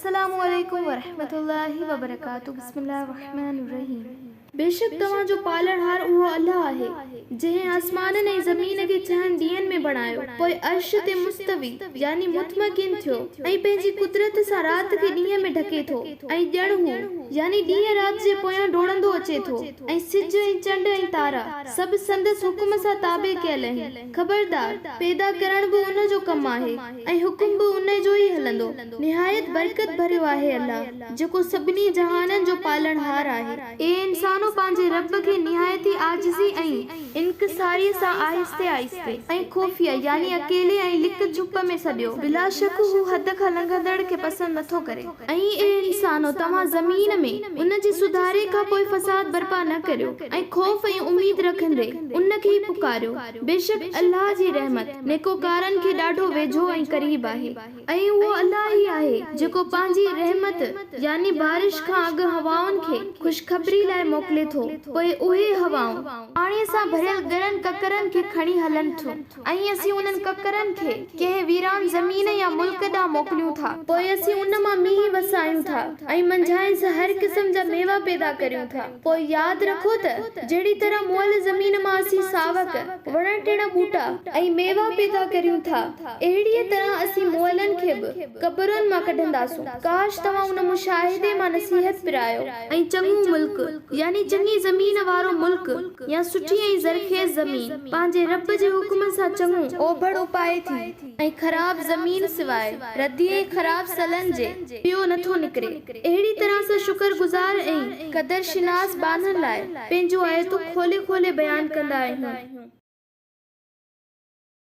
السلام عليڪم ورحمة الله وبرڪاته بسم الله الرحمن الرحيم. بيشڪ توهان جو پالڻهار اهو الله آهي، جنهن آسمانن ۽ زمين کي ڇهن ڏينهن ۾ بڻايو، پوء عرش تي مستوي، يعني مطمئڪن، ٿيو، ۽ پنهنجي قدرت سان رات کي ڏينهن ۾ ڍڪي ٿو، ۽ ڄڻ هو، يعني ڏينهن رات جي پويان ڊوڙندو اچي ٿو، ۽ سج ۽ چنڊ ۽ تارا، سڀ سندس حڪم سان تابع ڪيل آهن. خبردار پيدا ڪرڻ به ان جو ڪم آهي ۽ حڪم به ان جو ئي هلندو. نهايت برڪت ڀريو آهي الله جيڪو سڀني جهانن جو پالڻهار آهي. اي انسانو پنهنجي رب کي نهايت ئي عاجزي ۽ انڪساريء سان آهستي آهستي ۽ خفيه يعني اڪيلي ۽ لڪ ڇپ ۾ سڏيو. بلاشڪ هو حد کان لنگهندڙ کي پسند نٿو ڪري. ۽ اي انسانو! توهان زمين ۾ ان جي سڌاري کان پوء فساد برپا نه ڪريو ۽ خوف ۽ اميد رکندي ان کي ئي پڪاريو. بيشڪ الله جي رحمت نيڪوڪارن کي ڏاڍو ويجهو ۽ قريب آهي. ۽ اهو الله ئي آهي جيڪو پنهنجي رحمت يعني بارش کان اڳ هوائن کي خوشخبري لاء موڪلي ٿو، پوء اهي هوائون، پاڻيء سان ڀريل ڳرن ڪڪرن کي کڻي هلن ٿيون. ۽ اسين انهن ڪڪرن کي ڪنهن ويران زمين يا ملڪ ڏانهن موڪليون ٿا. پوء اسين ان مان مينهن وسايون ٿا، ۽ منجهانئس هر قسم جا ميوا پيدا ڪريون ٿا. پوء ياد رکو ته جهڙي طرح مئل زمين مان اسين ساوڪ، وڻ ٽڻ ٻوٽا، ۽ ميوا پيدا ڪريون ٿا، اهڙيء طرح اسين مئلن کي به قبرن مان ڪڍنداسون. ڪاش توهان ان مشاهدي مان نصيحت پرايو. ۽ چڱو ملڪ، يعني چڱي زمين وارو ملڪ، يا سٺي ۽ زرخيز زمين پنهنجي رب جي حڪم سان چڱو اوڀڙ اپائي ٿي ۽ خراب زمين سواء ردي ۽ خراب سلن جي پيو نه ٿو نڪري. اهڙي طرح سان شڪر گذار ۽ قدر شناس ٻانهن لاء پنهنجون آيتون کولي کولي بيان ڪندا آهيون.